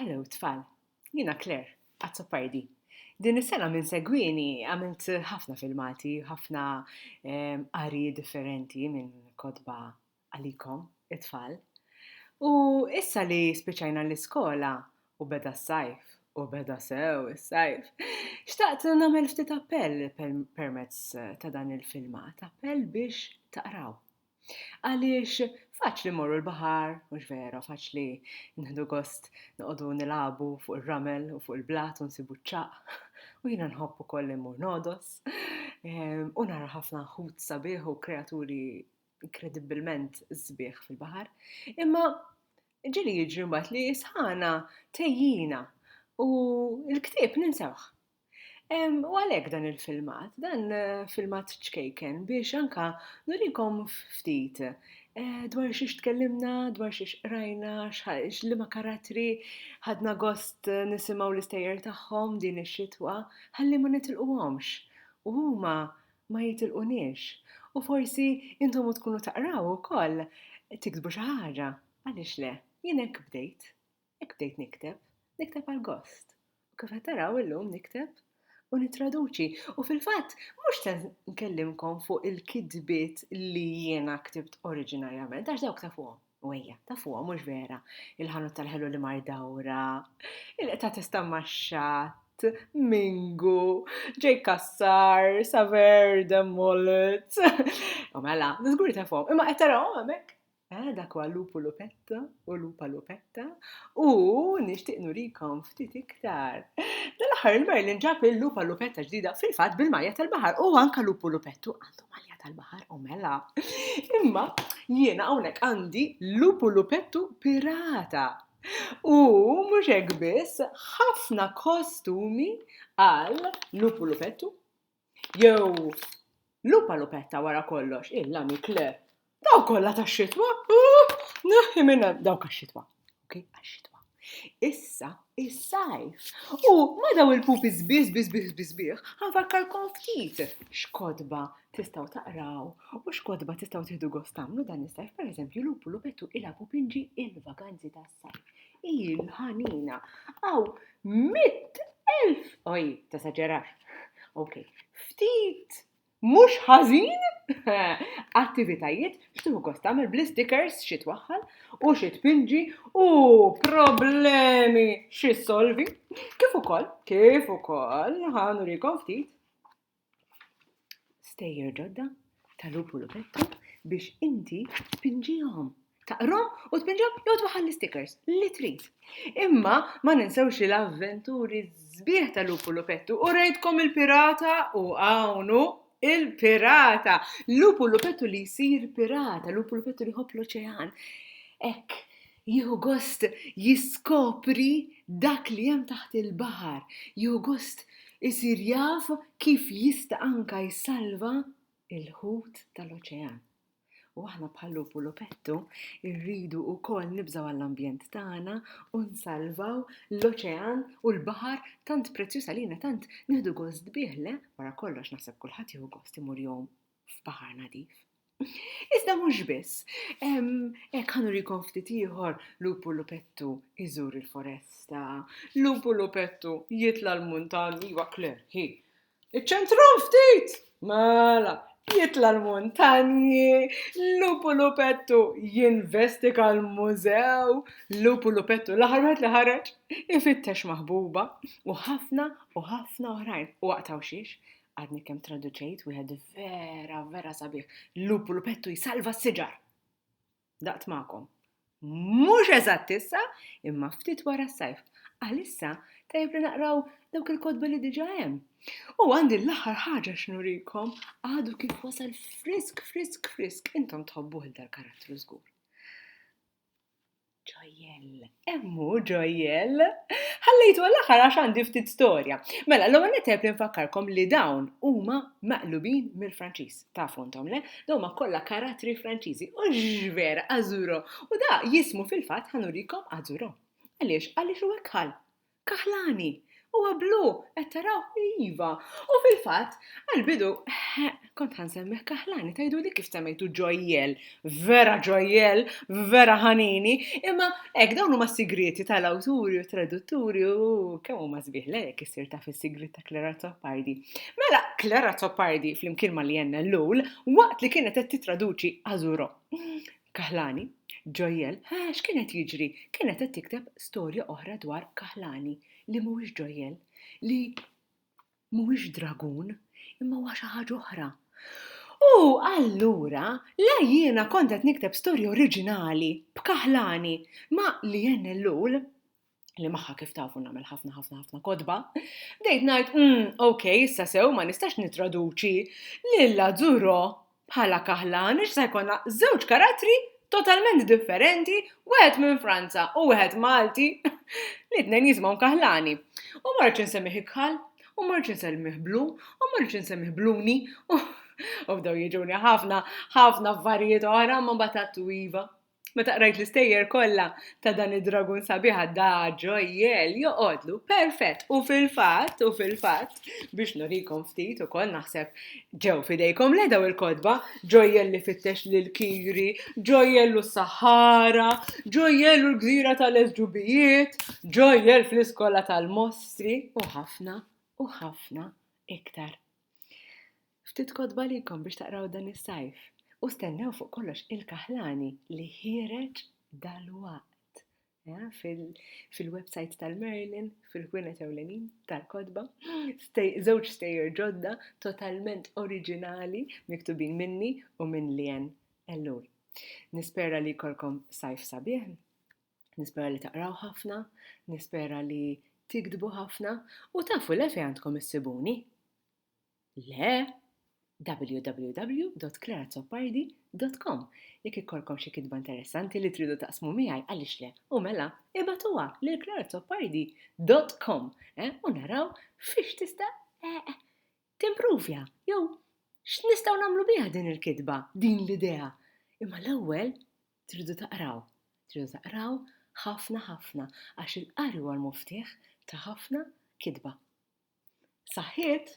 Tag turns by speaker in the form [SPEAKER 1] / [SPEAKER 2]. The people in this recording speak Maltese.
[SPEAKER 1] Hello tfal, jiena Claire, Azzopardi. Din is-sena minn segwini għamilt ħafna filmati, ħafna ehm, qari differenti minn kodba għalikom, it-tfal. U issa li spiċajna l-iskola u beda s-sajf, u beda sew is-sajf, xtaqt nagħmel ftit appell permezz ta' dan il-filmat, appell biex taqraw. Għaliex faċli mmorru l-baħar, mhux vera, faċli nħdu gost noqogħdu nilagħbu fuq ir-ramel u fuq il-blat u nsibu ċ-ċaqq. U jiena nħobb ukoll li mmur nodos. Ehm, u nara ħafna ħut sabiħ u kreaturi inkredibbilment sbieħ fil-baħar. Imma ġili jiġri mbagħad li sħana tejjina u l-ktieb ninsewh. U għalhekk dan il-filmat, dan filmat ċkejken biex anka nurikom ftit Eh, dwar xiex tkellimna, dwar xiex rajna, li ma karatri, ħadna gost eh, nisimaw l-istejjer tagħhom din ix-xitwa, ħalli ma nitilquhomx. U huma ma jitilqunix. U forsi intom u tkunu taqraw ukoll tiktbu xi ħaġa. Għaliex le? Jien hekk bdejt. Hekk bdejt nikteb, nikteb għal gost. U kif qed taraw illum nikteb u nittraduċi. U fil-fatt, mhux se nkellimkom fuq il-kidbiet li jiena ktibt oriġinarjament, għax dawk ta' fuqhom. U ejja, ta' fuqhom mhux vera. Il-ħanut tal-ħelu li mar dawra, il-qta tista' max-xatt, Mingu, ġej kassar, saver, demmolit. U mela, żgur ta' fuqhom, imma qed tarahom hemmhekk. Eh, dak huwa lupu lupetta u lupa lupetta u nixtieq nurikom ftit iktar. Dal-aħħar il-Merlin ġab il-lupa lupetta ġdida fil-fatt bil-malja tal-baħar u anka lupu lupettu għandu malja tal-baħar u mela. Imma jiena hawnhekk għandi lupu lupettu pirata. U mhux hekk biss, ħafna kostumi għal lupu lupettu Jew lupa lupetta wara kollox, hi l-amik le. Dawk kollha tax-xitwa, uh, neħħi minn hemm dawk għax-xitwa. Okej, għax-xitwa. Issa, is-sajf. U ma daw il-pupi sbieħ, sbieħ, sbieħ, sbieħ, sbieħ, ħanfakkarkom ftit x'kotba tistgħu taqraw u x'kotba tistgħu tieħdu gost tagħmlu dan is-sajf, pereżempju lupu lupettu ilha pupinġi il-vaganzi tas-sajf. Il-ħanina. Aw, mitt elf. Oj, ta' saġerax. Ok, ftit mhux ħażin attivitajiet xtuħu kosta għamil bli stickers xi twaħħal u xi tpinġi u problemi xi solvi. Kif ukoll, kif ukoll ħanurikom ftit stejjer ġodda ta' lupu lupettu biex inti tpinġihom. Taqrom u tpinġihom jew tbaħħal l-stickers li trid. Imma ma ninsewx li l-avventuri sbieħ ta' lupu lupettu u rejtkom il-pirata u hawnhu il-pirata. Lupu lupettu li jsir pirata, lupu lupettu li ħobb l-oċean. Ek, Jieħu gost jiskopri dak li hemm taħt il-baħar, jieħu gost isir jaf kif jista' anke jsalva l-ħut tal-oċean. U aħna bħal lupu lupettu rridu wkoll nibżgħu għall-ambjent tagħna u nsalvaw l-oċean u l-baħar tant prezzjuż għalina tant nieħdu gost bih le wara kollox naħseb kulħadd jieħu gost imur jgħum f'baħar nadif. Iżda mhux biss, hekk ħanurikom ftit ieħor lupu lupettu iżur il-foresta, lupu lupettu jitla l-muntan, iwa kler, hi. Iċ-ċentru ftit! Mela, jitla l-muntanji, lupu lupettu jinvestika l-mużew, lupu lupettu laħarwet li ħareġ, ifittex maħbuba, u ħafna u ħafna oħrajn. U waqtaw xiex? Għadni kemm traduċejt wieħed vera, vera sabiħ. Lupu lupettu jsalva s-siġar. Daqt ma'kom. Mhux eżatt issa, imma ftit wara s-sajf. Għalissa tajb li naqraw dawk il-kodba li diġa hemm. U għandi l-aħħar ħaġa x'nurikom għadu kif wasal frisk, frisk, frisk, intom tħobbuh dal-karattru żgur. Ġojjell, hemm hu Ġojjell! Ħallejtu għall-aħħar għax għandi ftit storja. Mela, l-ewwel nett għebt li nfakkarkom li dawn huma maqlubin mill-Franċiż. Tafu intom le? Dawn huma kollha karattri Franċiżi. U x'vera, Azuro! U da jismu fil-fatt ħa nurikom Azuro. Għaliex? Għaliex hu hekk ħall. Kaħlani! Huwa blu! Qed taraw? Iva! U fil-fatt, għall-bidu, kont ħa nsemmih kaħlani, tgħiduli kif semmejtu ġojjel, vera ġojjel, vera ħanini, imma hekk dawn huma sigrieti tal-awturi u tradutturi u kemm huma sbieħ le jekk issir taf is-sigriet ta' Clara Zoppardi. Mela, Clara Zoppardi, flimkien ma' Lienna Lul, waqt li kienet qed titraduċi Azuro, Kaħlani, Ġojjel, Haa, x'kien qed jiġri? Kienet qed tikteb storja oħra dwar Kaħlani, li mhuwiex ġojjel, li mhuwiex dragun, imma huwa xi ħaġa oħra. U allura, la jiena kont qed nikteb storja oriġinali b'Kaħlani, ma li NLU li maħħa kif tafu nagħmel ħafna ħafna ħafna kodba, bdejt ngħid, mm, ok, issa sew ma nistax nitraduċi lilla Zuro bħala kaħlan, ix se jkollna żewġ karattri totalment differenti, wieħed minn Franza u wieħed Malti, li tnejn jismaw kaħlani. U marċ insemmi ikħal, u marċ insemmi blu, u marċ insemmi bluni, u bdew jiġuni ħafna, ħafna affarijiet oħra ma batattu iva. Meta qrajt l-istejjer kollha ta' dan id-dragun sabiħ għadda ġojjel joqgħodlu perfett u fil-fatt u fil-fatt biex nurikom ftit ukoll naħseb ġew fidejkom le daw il-kotba ġojjel li fittex lil kiri, ġojjel u s-Sahara, ġojjel u l-gżira tal-Esġubijiet, ġojjel fl-iskola tal-mostri u ħafna u ħafna iktar Ftit kotba likom biex taqraw dan is-sajf u stennew fuq kollox il-kaħlani li ħiereġ dal-waqt eh, fil-website tal-Merlin, fil-ħwienet ewlenin tal-kotba, żewġ stejjer ġodda totalment oriġinali miktubin minni u minn Lien Ellul. Nispera li kolkom sajf sabiħ Nispera li taqraw ħafna, nispera li tiktbu ħafna u tafu le fejn għandkom issibuni. Le, www.clarazoppardi.com Jekk ikkolkom xi kitba interessanti li tridu taqsmu miegħi għaliex le u mela ibatuha lil clarazoppardi.com eh, u naraw fiex tista' eh, eh, timpruvja jew x'nistgħu nagħmlu biha din il-kitba, din l-idea. Imma l-ewwel Tridu taqraw, tridu taqraw ħafna ħafna għax il-qari huwa l-muftieħ ta' ħafna kitba. Saħħiet!